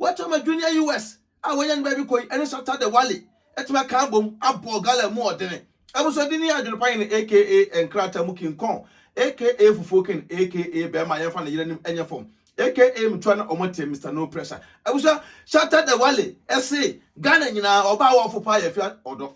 Wɔatumi ama Junior US a wɔanya no baabi kɔ yi ne Shatta the Wale atumi aka abom abɔ Gala mu ɔdene. Abosode ne adwene pa hene aka nkrataa mu King Kong aka Fufuo King aka Bɛɛma a yɛmfa ne yere anim nyɛ fam aka Mtua na wɔn te Mister No Pressure. Abusua, Shatta the Wale se Ghana nyinaa ɔbaa a ɔfo paa yɛ afia ɔdɔ.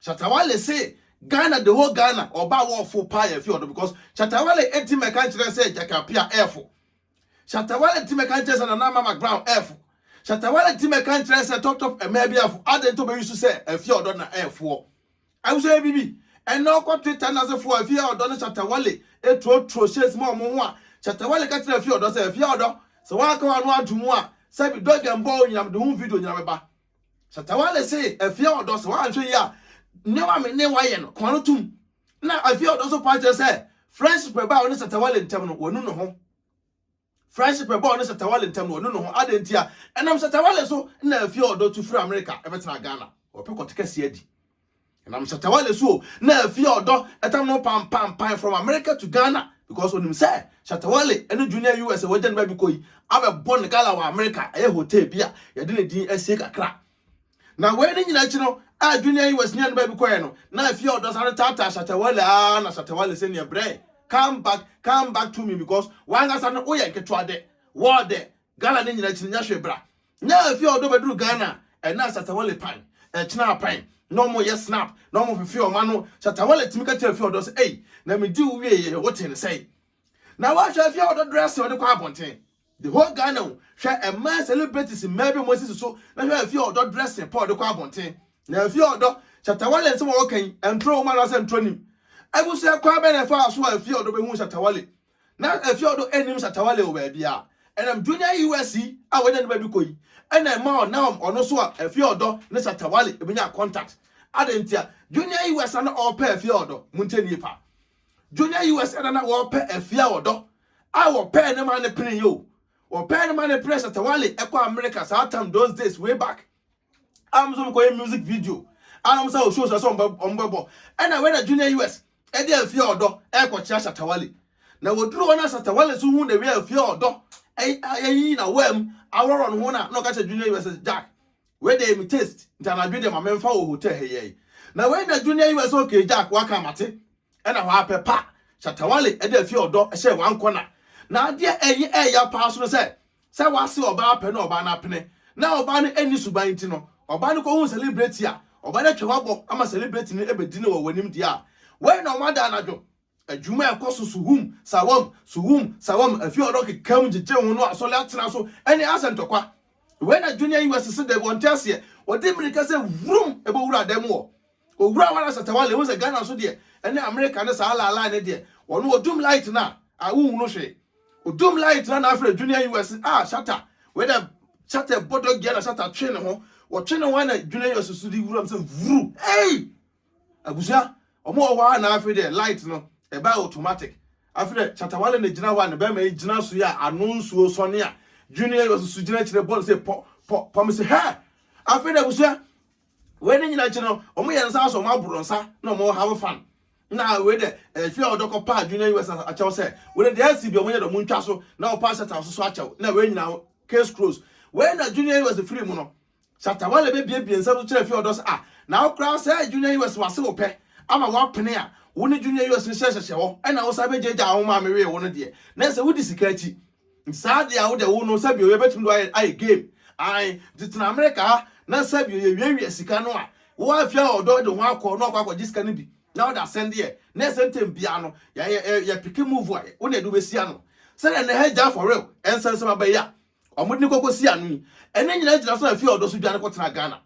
Shatta Wale se Ghana the whole Ghana ɔba a wɔɔfo paa yɛ fi ɔdɔ because Shatta Wale ɛti mɛka nkyerɛ sɛ Jack Appiah ɛɛfo Shatta Wale ɛti mɛka nkyerɛ sɛ Nana Mama Brown ɛɛfo Shatta Wale ɛti mɛka nkyerɛ sɛ Top Top ɛmɛɛ bi ɛɛfo adɛn nti ɔbɛ use sɛ ɛfi ɔdɔ na ɛɛfoɔ ɛwosɛ yɛ bibi ɛnɛ ɔkɔ Twitter na sefo ɛfi ɔdɔ ne Shatta Wale ɛturo turo shades ma ɔmo ho a Shatta Wale ka kyerɛ ɛfi ɔdɔ sɛ ɛfi ɔdɔ sɛ waaka wano anto mu a sɛbi dɔgɛ mbɔ onyinam de ho video nyina bɛba Satawale se Afia Ɔdɔ sɛ wanhwɛ yi a, nneɛma me ne wayɛ no, kɔn no tom. Na Afia Ɔdɔ nso paa kyerɛ sɛ friendship ɛbaa ɔne Satawale ntam no, wanu ne ho. Friendship ɛbaa ɔne Satawale ntam no, wanu ne ho. Adɛn ntia? Ɛnam Satawale so na Afia Ɔdɔ tu firi Amerika bɛtenaa Ghana. Wɔpɛ kɔte kɛseɛ adi. Ɛnam Shatta Wale so o, na afie a ɔdɔ tam no pampampae from America to Ghana because onim sɛ Shatta Wale ne Junior US a wagya ne ba bi kɔ yi abɛbɔ no gala wɔ America, ɛyɛ hotel bi a yɛde ne din asie kakra. Na wei ne nyina akyi no a Junior US ne ne ba bi kɔɛ no, na afie a ɔdɔ sare taataa Shatta Wale aa na Shatta Wale sɛ neɛ brɛɛ come back, come back to me because wankasa no woyɛ nketewa dɛ, wɔɔ dɛ, gala ne nyina akyi no nyɛ hwee bra. Nya efi a ɔdɔ bɛduru Ghana ɛna Shatawale pan ɛkyena apan na ɔmo yɛ snap na ɔmo fefe ɔmo ano Shatawale tumi ka kyerɛ efi ɔdɔ sɛ ei na me di wo wie yɛ wo te ne sɛe na wahwɛ efi a ɔdɔ dressing ɔde kɔ abɔnten the whole Ghana o hwɛ ɛmaa celebrities mmaa bi ɔmo asisi so na hwɛ efi ɔdɔ dressing pa ɔde kɔ abɔnten na efi ɔdɔ Shatawale nsɛm a ɔwɔ kan ntoro wɔ mu anaasɛ ntoro nim abusua kwan bɛn na ɛfaa so a efi ɔdɔ bɛhuu Shatawale Na ɛfi ɔdɔ anim satawa leo baabi a ɛnam junior us yi a wanya ne baabi kɔ yi ɛna ɛma ɔnam ɔno so a ɛfi ɔdɔ ne satawale ebenya contact adɛn ntia junior us na na ɔpɛ ɛfi ɔdɔ mu nkyɛn nie pa junior us ɛna na wɔpɛ ɛfi a ɔdɔ a wɔpɛ ne ma ne pene yo wɔpɛ ne ma ne pene satawale ɛkɔ america saa tam those days way back a wɔn nso wɔkɔyɛ music video a wɔn sɛ shows ɛsɛ wɔn bɛbɔ ɛna wei na junior us ɛde afie ɔdɔ ɛrekɔkyerɛ asatawale na wɔduru hɔ no asatawale nso hu na wei afie ɔdɔ ɛyi na wɔm awɔrɔ no ho na na ɔka kyerɛ junior us jack wei deɛ mi taste nti anadwo deɛ ma memfa wɔ hotel ha yɛi na wei na junior us okay jack waka amate ɛna hɔ apɛ pa shatawale ɛde afie ɔdɔ ɛhyɛ wankɔ na na adeɛ ɛyɛ ɛya paa so no sɛ Sɛ wɔase ɔbaa pɛ na ɔbaa no apene na ɔbaa no anni suban nti no, ɔbaa no kɔhuu sɛlebreti a, ɔbaa no atwa w'abɔ ama sɛlebreti no abɛdi no wɔ w'anim deɛ a, wei na wɔada anadwo adwuma a ɛkɔ so suhum sawam, suhum sawam, afie a wɔkekam gyegye ho no asɔre atena so ne asa ntɔkwa. Wei na Junior US se dɛ wɔnte aseɛ, wɔde mmirika sɛ wurum bɛwura adan mu wɔ. Owura Wana Satawale, wohu sɛ Ghana nso deɛ, ɛne America ne saa laalaa ne deɛ, wɔno odum light no a, ah, wonhu no hwee. Odum light no na afrɛ Junior US, ah, Shatta, wei dɛ Shatta ɛbɔ dɔgea na Shatta twe ne ho, wɔtwe ne ho na Junior US so de wuram sɛ vuru, ei! Abusua, ɔmo wɔ hɔ a na afei deɛ light no, ɛbaa automatic. Afei deɛ Chatawale na gyina hɔ a ne bɛrima yi gyina so yi a ano nsuo sɔne a, Junior US so gyina akyire bɔ no sɛ pɔ, pɔ, pɔ me se hɛ! Afei deɛ abusua, Wei ne nyina akyi no ɔmo yɛ nsa so ɔmo aboro nsa na ɔmo have fan na wei dɛ ɛfi a ɔdɔkɔ paa junior us akyɛw sɛ wei dɛ ɛsi bi ɔmo yɛ dɛ ɔmo ntwa so na ɔpaa shata ɔsoso akyɛw na wei nyina case close wei na junior us firi mu no shata wale bɛ bie bie nsa so kyerɛ fi ɔdɔ sɛ ah na wo koraa sɛ junior us wase wo pɛ ama wapene a wo ne junior us nhyɛ hyɛhyɛ hɔ ɛna wo san bɛ gya gya wo maame wee wo no deɛ na ɛsɛ wo di sika akyi Saa deɛ a wode wo no sɛbio yɛbɛtumi de ayɛ ayɛ game ae nti tena America ha na sɛbio yɛwiawia sika no a wo afia ɔdɔ de ho akɔ na ɔkɔ akɔgye sika no bi na wode asɛn deɛ na ɛsɛ ntɛm biara no yɛ yɛ yɛ yɛ peke move a wo na ɛde wobɛsi ano sɛdeɛ na ɛhɛ gya for real ɛnsɛnsɛm aba yi a wɔde no kɔkɔsi ano yi ɛne nyina gyina so afia ɔdɔ so dwane kɔtena Ghana.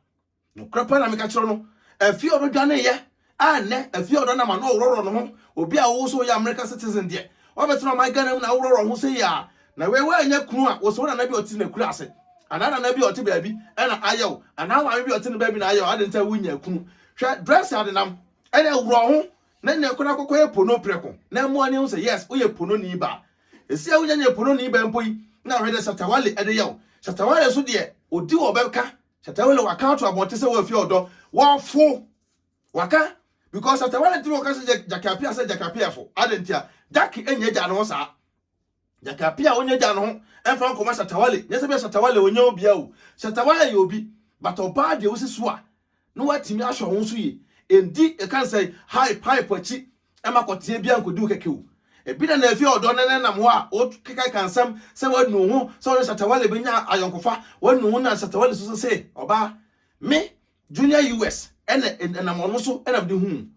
Nokorɛ paa na meka kyerɛ wo no, afie a ɔbɛdwaneeɛ a nnɛ afie a ɔda no ama na ɔworɔworɔ ne ho, obi a wo sɛ woyɛ American citizen deɛ, woabɛtena ɔman Ghana mu na woworɔworɔ wo ho sei a, na wei woannya kunu a, wo sɛ wo nana bi a ɔte n'akuraase, anaa nana bi a ɔte baabi na ayɛ wo, anaa wo maame bi a ɔte ne baabi na ayɛ wo, adɛn nti a wonnyaa kunu? Hwɛ dress adenam, ɛnneɛ worɔ wo ho na nnɛ kɔ na kɔkɔyɛ pono prɛko na mmoa ani ahu sɛ yes woyɛ pononi ba. Ɛsi a wonnya nyɛ pononi ba mpo yi na wohwɛ deɛ Shatta Wale de yɛ wo, Shatta Wale nso deɛ ɔdi wɔ bɛka Shatawale waka ato abɔnten sɛ wɔafi ɔdɔ wɔfo waka because Shatawale ntumi wɔka sɛ Jackie Appiah sɛ Jackie Appiah fo adɛn nti a Jackie ɛnyɛ gya ne ho saa Jackie Appiah ɔnyɛ gya ne ho ɛmfa nkɔma Shatawale nyɛ sɛ bia Shatawale ɔnyɛ obia o Shatawale yɛ obi but ɔbaa deɛ wosi so a na watumi ahwɛ ho so yie ɛndi ɛka nsɛ hype hype akyi Ɛmma kɔteɛ biara nkɔdi wo kɛkɛ o. Ebi na na afie ɔdɔ no nenam hɔ a wokekaka nsɛm sɛ wanu ho sɛ ɔne Shatta Wale bɛnya ayɔnkofa, wanu ho na Shatta Wale so se ɔbaa. Me, Junior US, na ɛnam ɔno so na mede huu.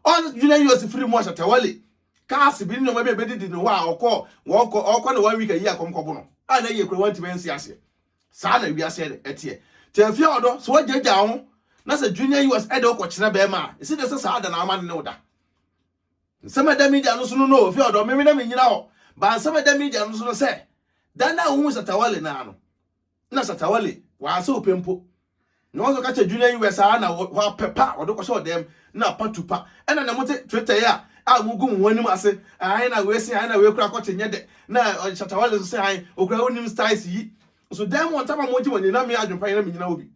Ɔn Junior US firi mu a Shatta Wale cars bi ne nneɛma bi a ɛbɛdidi ne hɔ a ɔkɔɔ, wɔkɔ, ɔkɔ ne one week ayi a kɔm kɔbo no a na yie koraa wantumi ansi aseɛ. Saa na wiase ɛ teɛ. Nti ɛmfia wɔ dɔ. Sɛ w'agyaagyaa wo ho na sɛ Junior US ɛde wo kɔ kyerɛ bɛɛma a, ɛsi dɛ sɛ saa da na w'ama no ne wo da. Nsɛm a ɛda media no so no no ɛfia wɔ dɔ. Me me na me nyina hɔ. But nsɛm a ɛda media no so no sɛ, da no a wo hu Shatta Wale no ara no na Shatta Wale w'ansa wo pɛ mpo. Na wɔn nso ka kyerɛ dwiri na yiwɛ saa na hɔ apɛ pa wɔde kɔhyɛ ɔdɛm na patu pa ɛna na mote twetɛe a a mugu mo ho anim ase ae na wei se ae na wei kura kɔkye nyɛ dɛ na ɔde shatawale nso se ae okura wonim styles yi nso dɛn mo ntama mogye mo ani na me adwempa yɛ na menyina obi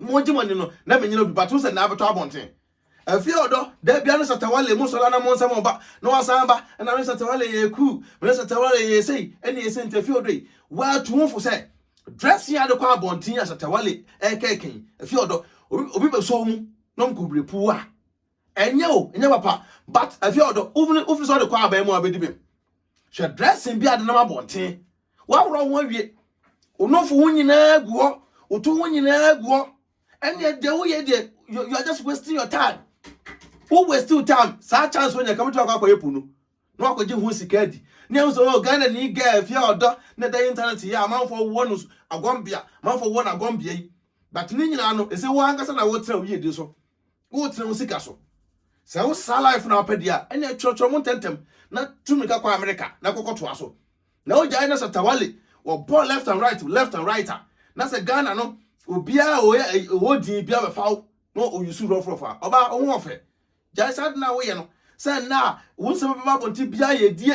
mogye mo ani no na menyina obi but wo sɛ na abɛtɔ abɔnten Afie ɔdɔ da bia ne satawale mo sɔla na mo nsɛm ɔba na wasan aba ɛna me satawale yɛ ku me satawale yɛ sei ɛne ɛsɛ nti afie ɔdɔ yi waatu ho fo sɛ dressing ade kɔ abɔnten a satawale ɛkɛkɛn afie ɔdɔ obi obi bɛsɔ mu na ɔmkɔbire puu a ɛnyɛ o ɛnyɛ papa but afie ɔdɔ wofini wofini sɛ ɔde kɔ abɛn mu a bɛdi bɛm hwɛ dressing bi adenam abɔnten waworɔ ho awie onofo ho nyinaa gu hɔ woto ho nyinaa gu hɔ ɛnneɛ deɛ woyɛ deɛ you you are just wasting your time wo waste your time saa chance wo nya kama tu akɔ akɔyɛ po no na wakɔgye ho sika adi ne ɛho sɛ oh ghana ni girl fia ɔdɔ na ɛda internet yɛ amanfoɔ wɔ no agɔmbea amanfoɔ wɔ no agɔmbea yi but ne nyinaa no ɛsɛ wo ankasa na wotra wo yiedie so Woretena wo sika so. Sɛ wo saa life na wopɛ deɛ a, ɛnna kyerɛkyerɛ mu ntɛmntɛm na tu mmirika kɔ Amerika na kɔkɔ toa so. Na wogyae na sɛ Tawale wɔbɔ left and right left and right a, na sɛ Ghana no obiara a ɔyɛ ɔwɔ din biara bɛfa wo na ɔyusu rɔfrɔfo a. Ɔbaa wo ho ɔfɛ. Gyae saa de no a woyɛ no. Sɛ nnɛ a wo nsɛm bɛba abɔnten biara yɛ die.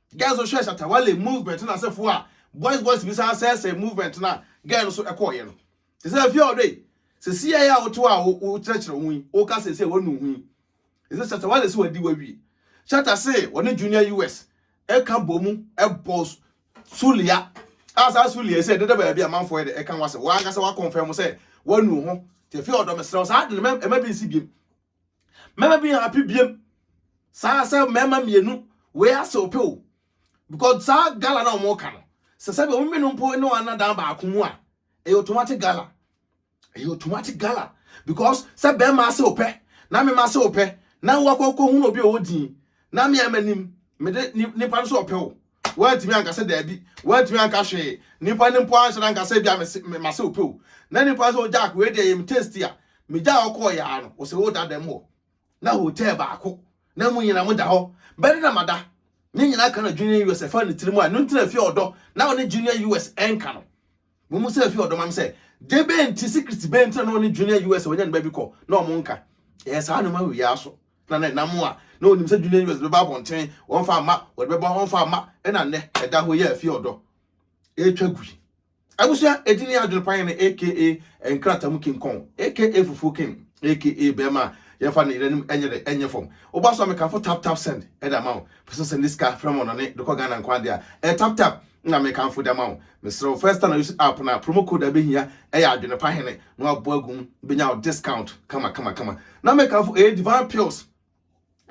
Girls no hwɛɛ Shatta Wale movement no asefo a boys boys bi san sɛesɛe movement no a girl no so ɛkɔɔeɛ no. Te sɛ afie a ɔdɔ yi, sɛ siae a woto a wo wokyerɛkyerɛ wo ho yi, woka seesei a wanu wo ho yi. Te sɛ Shatta Wale se wadi wawie. Shatta se ɔne Junior US ɛka bɔ mu ɛbɔ Sulia a saa Sulia yi sɛ ɛdeda baabi a manfoɔ yɛ dɛ ɛka ho asɛm. Wankasa wakɔnfɛm sɛ wanu wo ho. Te afie a ɔdɔ mesrɛ wo saa ade no mɛ ɛma bi nsi biem. mɛma bi happy biem saa sɛ mɛma mmienu wei ase ope o because saa gala na wɔn ka no sɛ sɛbi wɔn mmienu mpo ne wɔn anadan baako mu a ɛyɛ automatic gala ɛyɛ automatic gala because sɛ bɛrima ase ope na mɛma ase ope na wakɔ kɔ hu na obi a ɔwɔ din na mɛma nim mede nipa no so ɔpɛ o. Wantumi anka sɛ daabi. Wantumi anka hwee. Nnipa no mpo anhyɛ da nka sɛ ebia mese me mase wo pɛ o. Na nnipa no sɛ, oh Jack, wei deɛ ɛyɛ me taste a. Megyaa hɔ kɔɔeɛ ara no, wɔsɛ woda dɛm hɔ. Na hotel baako, na mo nyinaa moda hɔ. Bɛde na mada. Ne nyinaa ka na Junior US ɛfa ne tirim a, ɛno nti na ɛfeɛ ɔdɔ. Na ɔne Junior US ɛnka no. Wɔn sɛ efi ɔdɔm am sɛ gye bɛn nti si kristi bɛn nti na ɔne junior us a wɔnya ne baabi kɔ na wɔn nka ɛyɛ saa nneɛma wɔ yɛ aso na na nam a na onim sɛ junior us bɛba abɔnten wɔn fa ama wɔde bɛba wɔn fa ama ɛna nnɛ ɛda hɔ yɛ efi ɔdɔ ɛretwa gui abusua edini adwene pan ne aka nkrata mu king kong aka fufuo king aka bɛrima a yɛmfa ne yere anim ɛnyɛ dɛ ɛnyɛ fam woba so a mekafo tap tap send ɛda ma wo pɛsɛ sɛ ne sika frɛ mu ɔnɔne dekɔ ghana nkwan de a ɛ tap tap na mekamfo da ma wo Mesrɛ wo first time use app no a promo code a ɛbɛhia ɛyɛ adwene pa hene na wabɔ agu mu bɛnya wo discount kama kama kama na mekamfo ɛyɛ divine pills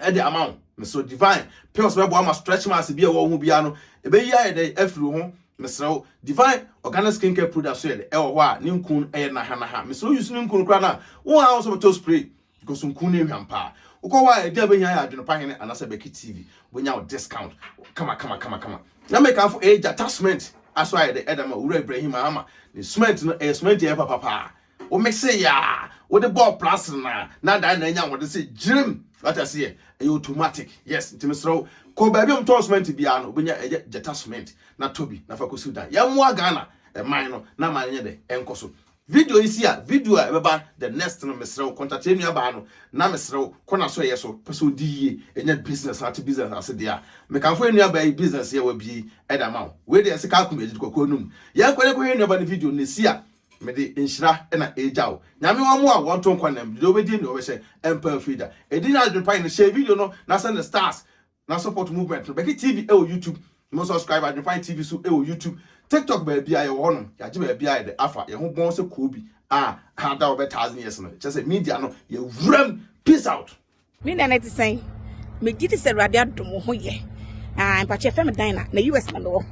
ɛde ama wo mesrɛ divine pills bɛboa ma stretch marks bi a ɛwɔ wo ho biara no ɛbɛyi ayɛ dɛ afiri wo ho mesrɛ wo divine organic skin care product so yɛ dɛ ɛwɔ hɔ a ne nkun ɛyɛ nahanaha mesrɛ wo use ne nkun koraa no a wo a wo nso bɛtɔ spray Kosunkun ne ehwam paa. Wokɔ hɔ a ɛdi a bɛhia yɛ Adwene-pa Hene anaasɛ Bɛki TV. Wobɛnya wo discount kamakamakamakama. Na mekamfo ee Gyata cement aso ayɛ dɛ ɛdama Owura Ibrahim Mahama ne cement no ɛyɛ cement a ɛyɛ papa paa. Wo mixe yɛ a wode bɔɔ plastr no a na adan na anya ahoɔden sɛ gyirem. Wate aseɛ? Ɛyɛ automatic. Yes nti mesrɛ wo kɔ baabi a wɔn tɔn cement biara no wobɛnya ɛyɛ Gyata cement na tɔ bi na fa kɔsi wo dan. Yɛmmoa Ghana man no na aman no nyɛ dɛ ɛnkɔ so. Video yi si a video a ɛbɛba the next no mesrɛ wo contact yɛn nua baa no na mesrɛ wo kɔ n'asoɛyɛ so pɛ sɛ odi yie ɛnya business na ate business ase deɛ a mekamfo yɛn nua baa yi business yi a wabie yi ɛde ama wo wei deɛ ɛsɛ kaa kum yɛn gyidi kɔkɔɔ anum yɛn kɔ yɛn kɔhwɛ yɛn nua baa no video na ɛsi a mede nhyira na ɛregya wo nyame wɔn mmoa wɔn nto nkwa nam deɛ ɔbɛdie deɛ ɔbɛhyɛ ɛmpa afiri da ɛdi nyɛ adwene pa yɛn hyɛ video no na sɛ ne stars Na support movement no bɛkye TV wɔ YouTube mo subscribe adwepan TV so wɔ YouTube TikTok baabia yɛwɔ hɔ nom yɛagye baabia yɛde afa yɛho bɔn sɛ koobi a ada ɔbɛ thousand years no kyɛ sɛ media no yɛwuram peace out. Ne nɛ no te sɛn megye di sɛ awurade adom wo ho yɛ ah mpakyɛ fɛm dan na na us na mewɔ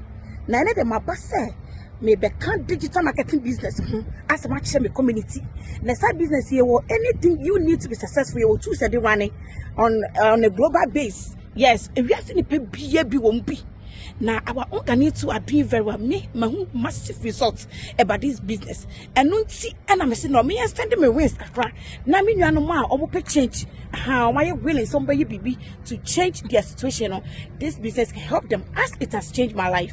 na ɛne de maba sɛ Mebɛka digital marketing business ho asɛm akyerɛ me community. Na saa business yɛ wɔ anything you need to be successful yɛ wɔ tools de rane on on a global base. Yes, ewiase nipa bia bi wɔn bi. Na our organic too are doing very well. Me mahu massive results about this business. Ɛno nti ɛna mese na ɔmo extend me wings kakra. Na me nuanom a ɔmo pɛ change. Aha, ɔmo ayɛ willing sɛ ɔmo bɛyɛ biribi to change their situation no. This business can help them as it has changed my life.